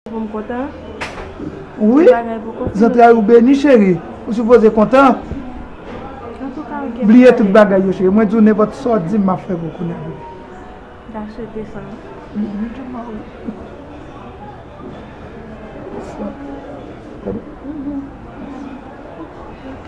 Pou m kontan? Wi, zantray ou beni cheri, ou sipoze kontan. Bliye tout bagay yo cheri, mwen di w nenpòt sa w di m m ap fè pou w kounya bebe. Gason desan. Li tou ba ou. Gade. Ok.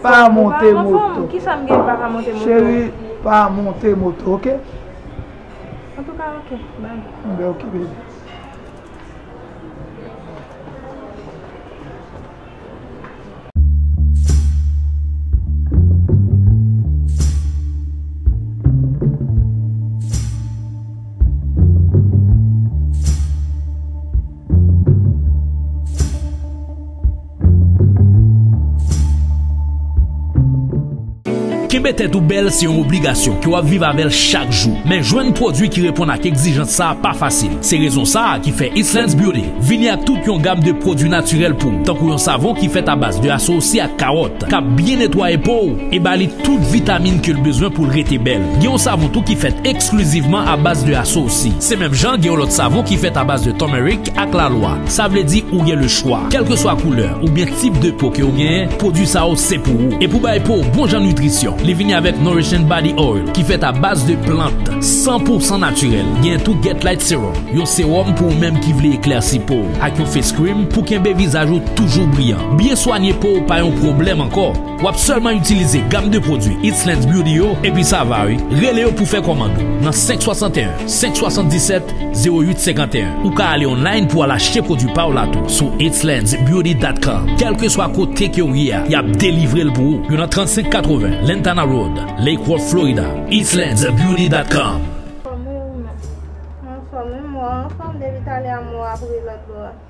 Pa monte moto Cheri pa monte moto ok Ok bby. Kenbe tèt ou bèl se yon obligasyon ke w ap viv avè l chak jou. Men jwenn pwodui ki reponn ak egzijans sa pa fasil. Se rezon sa a ki fè East Lens Beauty vini ak tout yon gam de pwodui natirèl pou w, tankou yon savon ki fèt abaz de asosi ak kawòt, k ap byen netwaye po w e ba li tout vitamin ke l bezwen pou l rete bèl. Gen yon savon tou ki fèt eksklizivman abaz de asosi. Se menm jan gen yon lòt savon ki fèt abaz de turmeric, Ak la lwa, sa vle di ou gen le chwa. Kelkeswa koulè oubyen tip de po ke ou genyen, pwodwi sa yo se pou ou. E pou bay po w bon jan nitrisyon, li vini avèk Nourishing Body Oil ki fèt a baz de plant san pou san natirèl. Genyen tou Get Light Serum, yon sewòm pou ou menm ki vle eklèsi po w, ak yon Face Cream pou kenbe vizaj ou toujou briyan. Byen swanye po w pa yon pwoblèm ankò. Wap sèlman itilize gam de pwodwi It's Lens Beauty yo epi sa va wi. Rele yo pou fè kòmand ou nan 561 577 08 51. Ou ka ale online pou al achte pwodwi pa w la tou sou itslensbeauty.com. Kèlkeswa kote ke w ye a, yap delivre l pou ou. Yo nan 35 80 Lantana Road, Lake Worth, Florida. itslensbeauty.com. Fòmil 1 Fòmil 1 Fòmil 1 Fòmil 2 Vit ale a mo a pou ri lòt bò a.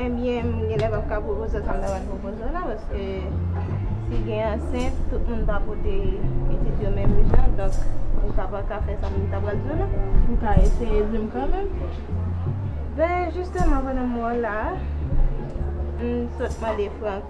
Enbyen m genlè pap ka pwopoze w sa m ta pral pwopoze w la paske si gen ansent tout moun pa pote pitit yo menm jan donk ou ka pa ka fè sa m ta pral di w la. Ou ka eseye di m kanmenm. Ben jisteman pandan m wè w la a m sot mande Frank.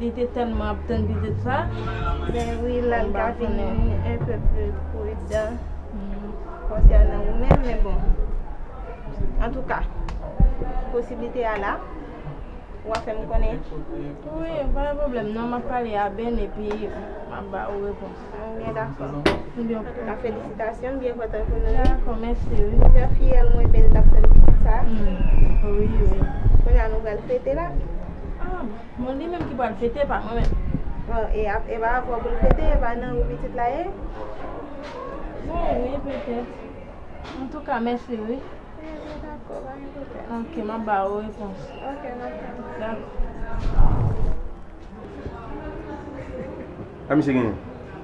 Li te tèlman ap tann pitit sa. Ben wi la li ka vin un peu plus prudent concernant ou menm men bon en tout cas posibilite a la ou a fèm konnen. Wi pa gen pwoblèm non map pale a Ben epi map ba ou repons. Bon gen dakò. Ebyen ok. An tou ka felisitasyon m byen kontan pou nou. Dakò mèsi wi. Jan fiyèl mwen Ben tap tann pitit sa. Wi wi. Kounye a nou pral fete la. Bon li menm ki pral fete pa mwen menm. Bon e ap epa avè w pou l fete epa nan ou pitit la ye. Bon wi petèt. Antouka mèsi wi. Ebyen dakò pa gen pwoblèm. Ok map ba ou repons. Ok nan tann ou. Dakò. Sa misye genyen?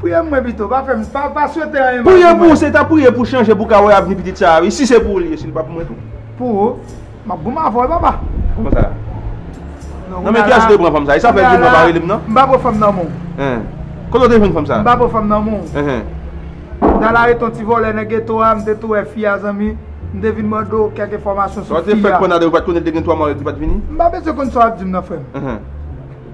Priye pou mwen pito, pa fèm, pa swete anyen mal pou mwen. Priye pou ou, se ta priye pou chanje pou ka wè avni pitit sa a wi, si se pou ou li ye, si li pa pou mwen tou. Pou ou, m ap goumen avè w papa. Kouman sa? Nan men kiyès ou te pran fanm sa a? E sa fè joumou an pa rele m nan? M pa pran fanm nan men w. Hen. Kote ou te jwenn fanm sa a? M pa pran fanm nan men w. Hen. M ta la rete yon ti vòlè nan geto a, m te tou wè fi a zanmi, m te vin mande w kèk enfòmasyon sou fi a. Sa w te fè pandan ou pa t konnen l te gen 3 maryaj li pa t vini? M pa bezwen konn sa w ap di m nan frè m. Hen.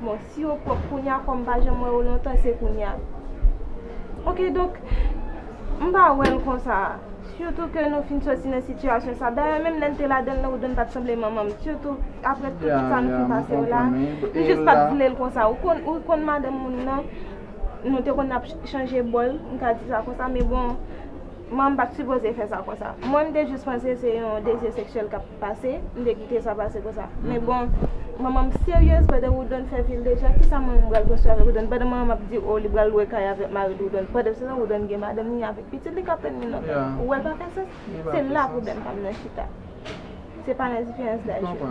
Bon si yo pwòp kounya kòm pa janm wè yo lontan se kounya ok donk m pa wèl konsa sitou ke nou fin soti nan sitiyasyon sa dayè menm lèn te ladanl nan woodon pat sanble manmanm sitou aprè tout sa nou fin pase yo la m jis pat vlel konsa ou konn madanm moun nan nou te konn ap chanje bòl m ka di sa konsa men bon. Mwen m pat sipoze fè sa konsa. Mwen m te jis panse se yon dezi seksyèl k ap pase, m te kite sa pase konsa. Men bon, manman m seryez pandan Woodon fè vil deja, kisa manman m pral konstwi avèk Woodon? Pandan manman m ap di o li pral lwe kay avèk mari l Woodon, pandan se tan Woodon gen madanm li avèk pitit li k ap tann li nan kay la. Ou wè l pa fè sans? Se la pwoblèm pa m nan chita. Se pa nan diferans daj yo.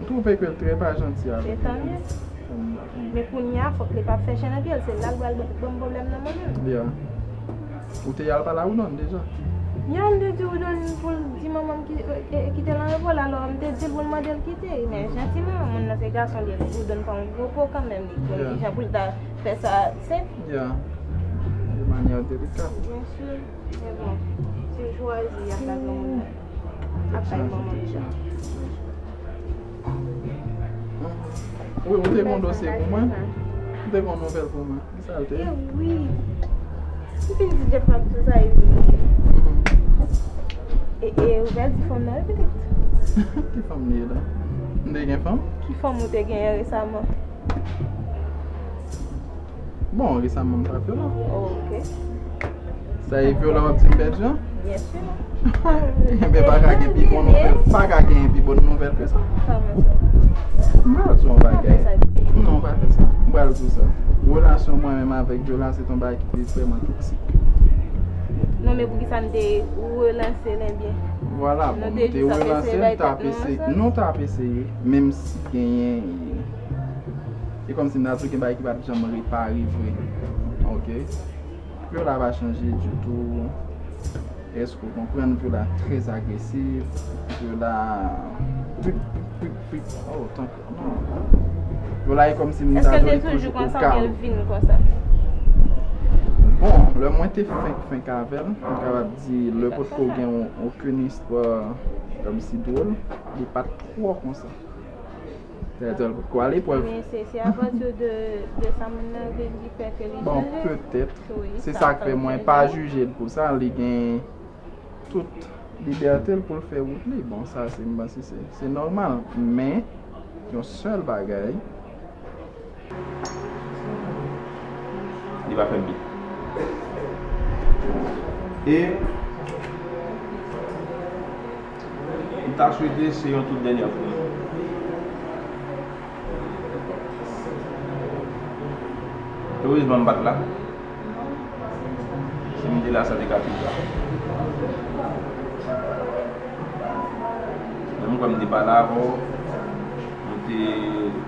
M trouve ke l trè pa janti avèk m. Etann li. Men kounya fòk li pa fè chen nan pye l. Se la l pral ban m pwoblèm nan mwen menm. Ya. Ou te al pale a Woodon deja? Ya m te di Woodon pou l di manman m kite l an repo l. Alò m te di l pou l mande l kite. Men jantiman moun nan se gason li ye. Woodon pa yon gwo po kanmenm. Li konn ki jan pou l ta fè sa tu se. Ya. De manyè delikate. Byensi. Men bon. Se jwazi y ap la granmoun nan. Ap bay manman m jan. Ou te gen yon dosye pou mwen? Ou te gen yon nouvèl pou mwen? Ki sa l te? Ewi! M fin di Jeff m ap di sa e vini. E ou pral di fanm nan wi pitit? Ki fanm li ye la? M te gen fanm? Ki fanm ou te genyen resaman? Bon, e sa moun pa fè la. Ok. Sa e vyo la wap di m pèdi an? Bien sûr. Enben pa ka gen pi bon nouvel. Pa ka gen pi bon nouvel ke sa. Kòman sa? M pral di w yon bagay. Non, m pa fè sa. M pral di w sa. Relasyon mwen menm avèk vyo la se te yon bagay ki te vrèman toksik. Non men poukisa nou te relanse l enben? Vwala, bon nou te relanse l, nou t ap eseye. Nou t ap eseye, menm si genyen. Se kòmsi nan tou gen bagay ki pap janm repare vre ok Pyo la pa chanje ditou èske ou konprann pyo la très agresif pyo la pip pip pip oh tank pyo la e kòmsi m ta dwe toujou pou kal bon lè mwen te fenk fenk avèl m kapab di lè pot ko gen okenn istwa kòmsi dwòl li pat twò konsa. Senatè potko ale prèv. Men se se apatir de de sa moun nan vle di fè ke li Bon jije. petèt. Se sa k fè mwen pa jije l pou sa. Li gen tout libète l pou l fè wout li. Bon sa se m panse se se nòmal. Men yon sèl bagay. Li pa fè bit. E m ta swete se yon tout dènyè fwa. Erezman m pa t la. Si m te la sa te ka pi grav. Men m kwè m te pale avè w. M te.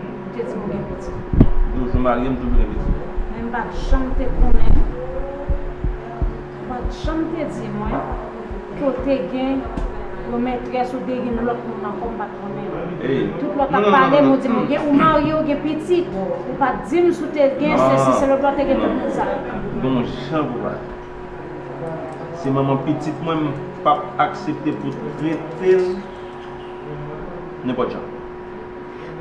M te di w m gen pitit. Di w si w marye m toujou gen pitit. Men m pa t janm te konnen. Ou pa t janm te di mwen ke w te gen yon mètrès ou te gen yon lòt moun ankò m pa t konnen. Tout lò t ap pale m ou di m ou marye w gen pitit. Ou pa t di m si w te gen sesi se lòt lò te gen tout moun sa yo. Gon jan pou pale. Se manman pitit mwen m p ap aksepte pou w trete l nenpòt jan.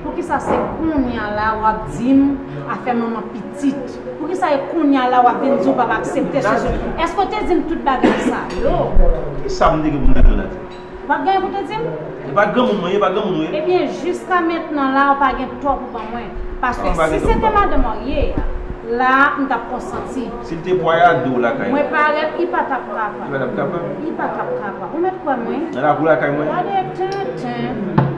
Poukisa se kounya la wap dim afè manman pitit poukisa e kounya la wap vin di ou pap aksepte chanje eske ou te dim tout bagay sa yo Kisa m te gen pou m te di w Nathie? Ou pat gen anyen pou te di m? E pa granmoun mwen ye, pa granmoun ou ye? Ebyen jiska mentnan la ou pa gen tò pou ban mwen paske si se te madanm an ye a la m tap konsanti Si l te pwayade w lakay mwen parèt li pa tap kapab Li pa tap kapab Li pa tap kapab ou mèt kwè mwen Nan lakou lakay mwen Gade tenten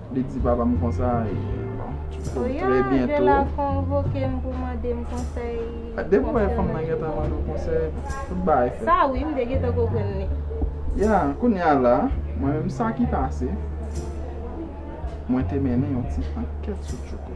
Li di papa m konsa e bon. Pou trè byento. Sou yon lè la konvoke m pou mande m konsèy. Depi wè fanm nan gentan mande w konsèy. Tout bagay fèt. Sa wi m te gentan konprann li. Ya kounye a la mwen menm sa ki pase. Mwen te mennen yon ti ankèt sou Tchouko.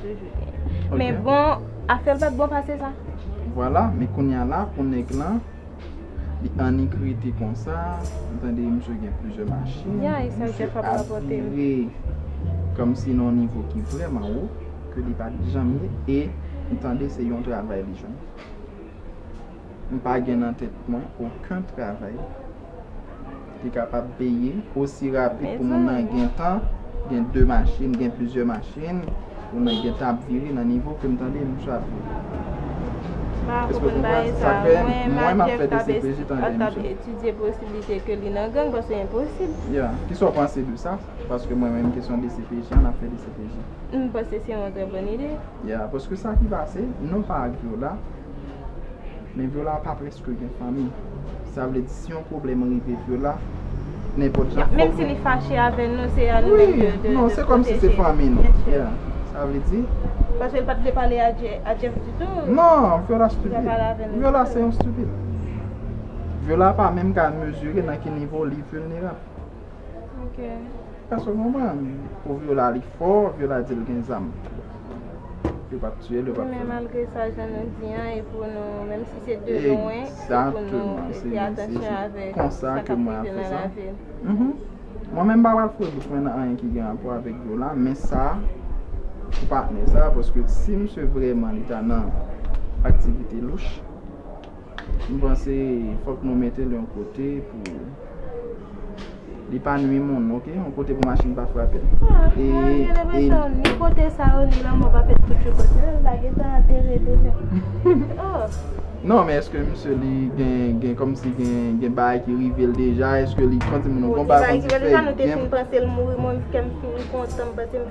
Men bon, afèl pat bon pase sa. Vwala, men kounya la pou nèg lan, li annik rete konsa, m tande misye gen plizyè machin, misye atire kòmsi nan yon nivo ki vrèman wo, ke li pat janm ye, e m tande se yon travay li jwenn. M pa gen nan tèt mwen oken travay. Li kapab peye osi rapid pou moun nan gen tan gen 2 machin, gen plizyè machin, moun nan gen tan ap vire nan nivo kem tande misye ap vire. Èske w konprann? Sa fè mwen map fè dcpj tande misye. Kisa w panse de sa? Paske mwen menm kesyon dcpj an nap fè dcpj. Paske sa ki pase non pa ak yo la. Men Viola pa preske gen fanmi. Sa vle di si yon pwoblèm rive Viola, nenpòt jan fòk nou. Menm si li fache avè nou, se a nou menm de pwoteje. Wi, non, se kòm si se fanmi nou. Ya, sa vle di. Paske li pa t vle pale a Jeff ditou. Non, Viola stupid. Viola se yon stupid. Viola pa menm ka mezire nan ki nivo li vilnerab. Ok. Paske manman pou viola li fò viola di l gen zam yo pap tiye l yo pap fè anyen men malgre sa jan nou di an e pou nou menm si se de lwen egzakteman se fè atansyon avèk sa konsa ke mwen ap fè sa mwen menm m pa pral foure bouch mwen nan anyen ki gen rapò avèk viola men sa pou patnè sa paske si misye vrèman li ta nan aktivite louch. M panse fok nou metel yon kote pou li pa nwi moun ok yon kote pou machin pa frapel e e ni kote sa yo ni lanmo pa fèt pou tchouko sinon yo ta gentan antere deja non men eske misye li gen komsi gen bagay ki rivel deja eske li santi moun bon bagay ki rivel deja nou te fin pansel mouri mwen menm kèm fin kontan m panse.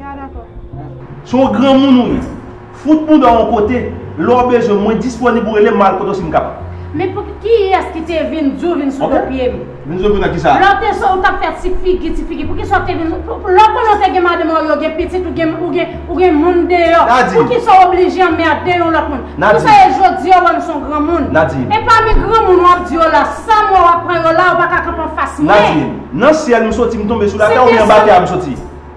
Ya dakò. Se yon granmoun ou ye. Fout mouda w yon kote. Lè w bezwen m, mwen disponib ou rele m map al kote w si m kapab. Men pou kiyès ki te vin di w vin sou do pye m? Vin sou do pye m nan kisa? Lè w te sou ou tap fè ti figi, ti figi. Poukisa w te vin Lè w konnen w te gen madan marye w gen pitit ou gen ou gen ou gen moun deyò. Nadi. Poukisa w oblije anmède yon lòt moun? Nadi. Pou sa e jodi a w wè m se yon granmoun? Nadi. E pami granmoun wap di yo la, sa m wè wap pran yo la ou pa ka kanpe anfas mwen. Nadi. Nan syèl m soti m tonbe sou latè oubyen anba tè a m soti?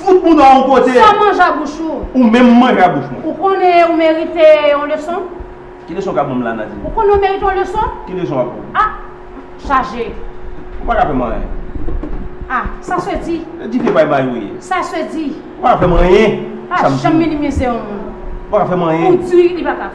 Fout bouda yon kote. San manje a bouch ou. Ou menm manje a bouch mwen. Ou konnen ou merite yon leson? Ki leson kap banm la Nadine? Ou konnen ou merite yon leson? Ki leson wap banm? Ah! Chaje. Ou paka fèm anyen. Ah! Sa se di. Se dife bay bay ou ye. Sa se di. Ou paka fèm anyen. Pa janm minimize yon moun. Ou paka fèm anyen. Ou di li paka.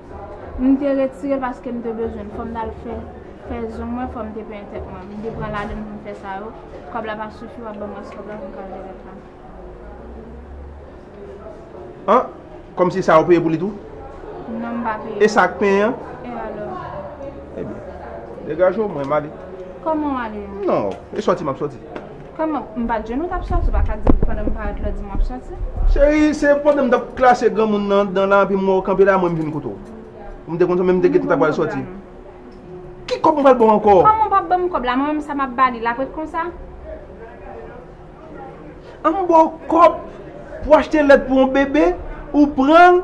M te retire l paske m te bezwen l. Fò m t al fè fè zong mwen, fò m te penyen tèt mwen. M te pran lane m pou m fè sa yo. Kòb la pa sifi, w ap ban m rès kòb la pou m ka achte lèt la. An! Kòmsi sa a ou peye pou li tou? Non, m pa peye. E sa ak penyen an? E alò? Ebyen, degaje w, mwen m ale. Kòman w ale an? Non, e sòti m ap sòti. Kòman, m pa t jwenn ou t ap sòti, ou pa ka di m pandan m parèt la ou di m w ap sòti? Cherie, se pandan m t ap klase granmoun nan anndan la epi m wè w kanpe la mwen m vin kote w. Ou m te konn sa men m te gentan ta pral sòti. Ki kòb m pral ba w ankò? Kòman w p ap ban m kòb la, mwen menm sa m ap ba li, l ap ret konsa? An m ba w kòb pou achte lèt pou yon bebe, ou pran l?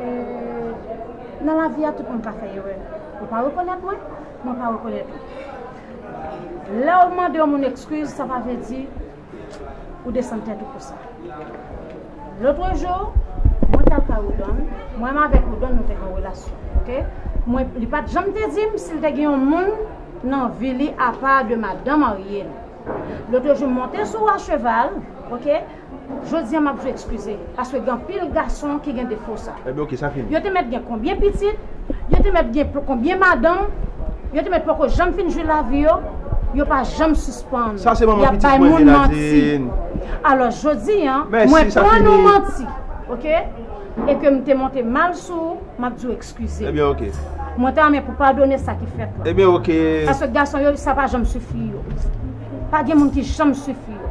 Eee nan lavi a tout moun ka fè erè ou pa rekonèt mwen mwen pa rekonèt ou lèw mande yon moun ekskiz sa pa vle di ou desann tèt ou pou sa lotrejou mwen tal kay Woodon mwen m avèk Woodon nou te gen yon relasyon ok mwen li pat janm te dim sil te gen yon moun nan vi li apa de madan marye li lotrejou m monte sou a cheval ok. Jodia map jwe excuze paske gen anpil gason ki gen defo sa. Ebyen ok sa fini. Yo te mèt gen konbyen pitit, yo te mèt gen konbyen madanm, yo te mèt poko janm fin jwi lavi yo, yo pa janm sispann Sa se manman yap pitit bay mwen moun manti. Miladine. Alò jodi an mwen Mèsi sa prann ou fini. manti ok e ke m te monte mal sou ou map di w excuze. Ebyen ok. Mwen ta renmen pou padone sa ki fèt lan. Ebyen ok. Paske gason yo sa pa janm sifi yo. Pa gen moun ki janm sifi yo.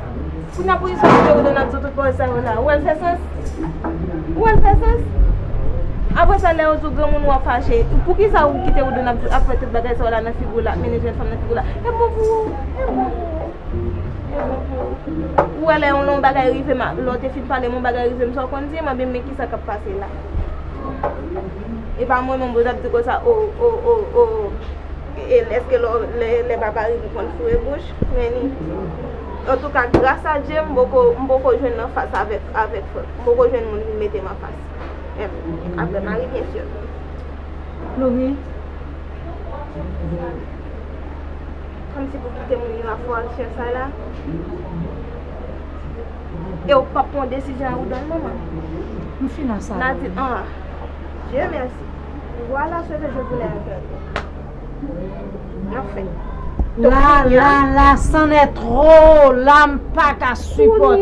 Si nan prizon yo te wè Donald sou tout pawòl sa yo la, ou wè l fè sans? Ou wè l fè sans? Apre sa lè yo di w granmoun ou ap fache, poukisa ou kite ou Donald ap fè tout bagay sa yo la nan figi w la, ap mennen jenn fanm nan figi w la? E bon pou ou! E bon pou ou! E bon pou ou! Ou wè lè yon lon bagay rive m a, lè w te fin pale m yon bagay rive m, sa w konn di m? Anben men kisa k ap pase la. E pa mwen menm ou t ap di konsa, o, o, o, o, o. Eske lè papa ri pou konn foure bouch men li Antouka gras a Dye m poko jwenn nan fas avèk M poko jwenn moun vin mete m anfas Aprè Mari byen sur Plouri Kòmsi pou kite moun yo ap fè aksyon sa la Ew pap pran desizyon a ou dòl manman M fin nan sa la Nadin Ahh Dieu merci Voilà ce que je voulais entendre Enfin La la la c'en est trop la m paka supote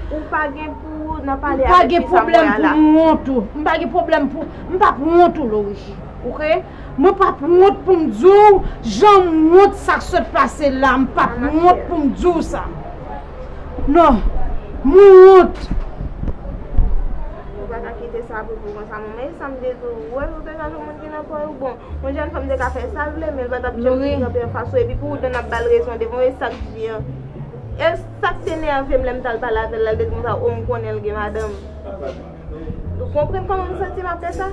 Ou pa gen pou ou nan pale avèk ti fanm wè a la M pa gen pwoblèm pou m wont ou M pa gen pwoblèm pou m pap wont ou Laurie Ok Mwen pap wont pou m di w jan m wont sa k sot pase la M pap wont pou m di w sa. Non, mwen wont! Ou pa ka kite sa pou pou konsa non. Men sa m te di w, ou wè ou te ka jwenn moun ki nan kò yo. Bon, yon jèn fanm te ka fè sa l vle, men l pa t ap janm vin kanpe anfas ou. Epi pou ou t vin ap ba l rezon devan ou, e sa k di an. E sa k te nève m lè m t al pale avè l la, l te di m konsa, o m konnen l gen madanm. Ou konprann kòman m santi m apre sa?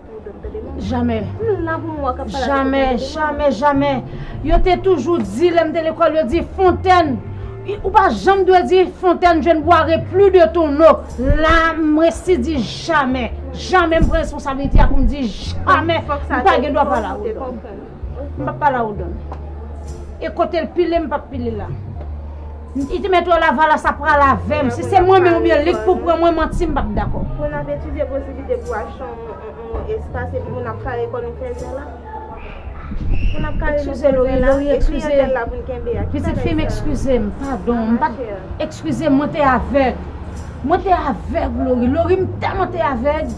Jamè, jamè, jamè, jamè Yo te toujou di lè m te lekòl yo di fontèn Ou pa janm dwe di fontèn jwenn bwa re pli de ton no La m resi di jamè Jamè m pran responsabilite a pou m di jamè M pa gen dwa pale a wot m pap pale a ou dan. E kote l pile m pap pile la. N ite mèt wè lavalas ap pral avè m. Si se mwen menm oubyen li k pou pran mwen manti m pap dakò. Pou n ap etidye posiblite pou achte yon espas epi pou n ap kare kò nou fèzè la. Pou n ap kare nou fèzè la. E kliyantèl la pou n kenbe a. Pitit fi m ekskize m. Padon. M pa te. Ekskize m mwen te avèg. Mwen te avèg Lori. Lori m tèlman te avèg.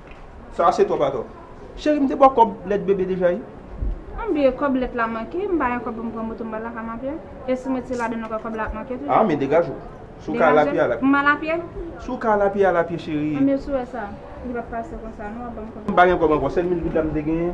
Sa se twòp atò. Cheri m te ba w kòb lèt bebe deja wi. M bliye kòb lèt la manke, m pa gen kòb pou m pran moto m ba l la ka m apye. E si m ret se ladan nou kwè kòb la ap manke toujou. A men degaje w. Si w ka al a pye al a pye. M al a pye? Si w ka al a pye al a pye cheri. Anmyee si w wè sa, li pap pase konsa non, w ap ban m kòb la. M pa gen kòb ankò, sèl mil goud la m te genyen.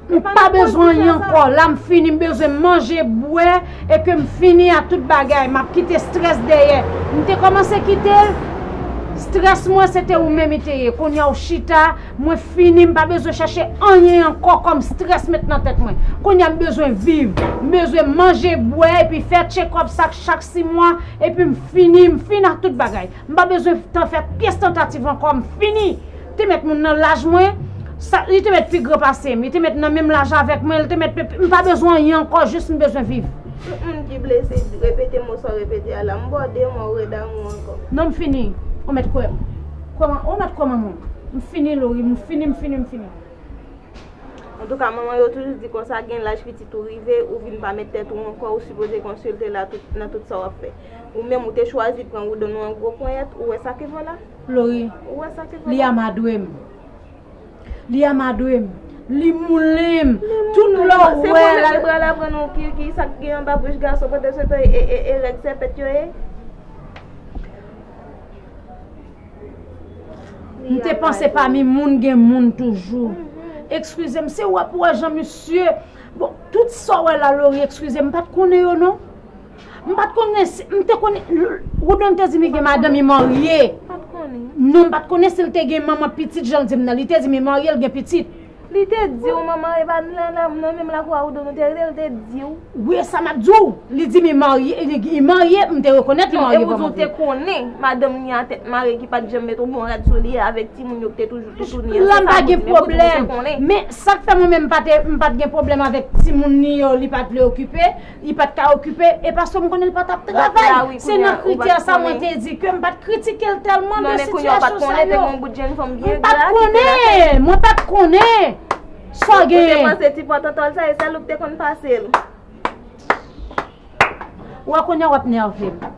M pa bezwen anyen ankò, la m fini, m bezwen manje, bwè, e ke m fini a tout bagay, m ap kite strès dèyè. M te kòmanse kite l, strès mwen se te ou menm i te ye, kounye a ou chita, mwen fini, m pa bezwen chache anyen ankò kòm strès met nan tèt mwen. Kounye a m bezwen viv, m bezwen manje, bwè, epi fè tchekòp sa chak si mwa, epi m fini, m fini ak tout bagay. M pa bezwen fè pyès tantativ ankò, m fini. Te mèt moun nan laj mwen, li te mèt pi gran pase m, li te mèt nan menm laj avèk mwen, li te mèt pi, m pa bezwen anyen ankò jis m bezwen viv. Tout moun ki blese di, repete mo sa w repete a la, m ba w de mwa ou re damou m ankò. Non m fini, ou mèt kwè m. Kwè m, ou mèt kwè m an moun. M fini Lori, m fini, m fini, m fini. Antouka manman yo toujou di konsa gen laj pitit ou rive, ou vin pa mèt tèt ou ankò, ou sipoze konsilte la nan tout sa w ap fè. Ou menm ou te chwazi pran woudon ou an gwo ponyèt, ou wè sa ki vo la? Lori, Li amadwe m. Li amadwe m. Li moulen m. Tout lè w wè l. Se pou l pral aprann ou ki sa k gen anba bouch gason pandansetan e règ sèpèt yo ye. M te panse pami moun gen moun toujou. Ekskize m, se w ap wè jan misye. Bon, tout sa w wè la Lori, ekskize m, m pa t konnen yo non. M pat konnen si, m te konnen, Woodon te di m li gen madanm li marye. M pat konnen. Non m pat konnen si l te gen manman pitit jan l di m nan. Li te di m li marye, l gen pitit. Li te di w manman Eva nan menm lakwa Woodon nou te rete, l te di w? Wi e sa m ap di w. Li di m li marye, li marye, m te rekonèt li marye. Bon e ou di w te konnen madanm li a tèt mare ki pat janm met yon bon rad sou li avèk timoun yo ki te toujou toutouni an. La m pa gen pwoblèm. Men sa k fè mwen menm m pat gen pwoblèm avèk timoun li yo li pat vle okipe. Li pat ka okipe, e paske m konnen li pa tap travay. Se nan kritè sa mwen te di ke m pat kritike l tèlman de sitiyasyon sa yo. Mwen pat konnen, mwen pat konnen. Sa gen. Ou te panse ti pòtòtòl sa e sèl ou k te konn pase l. Wè kounye a w ap nève m.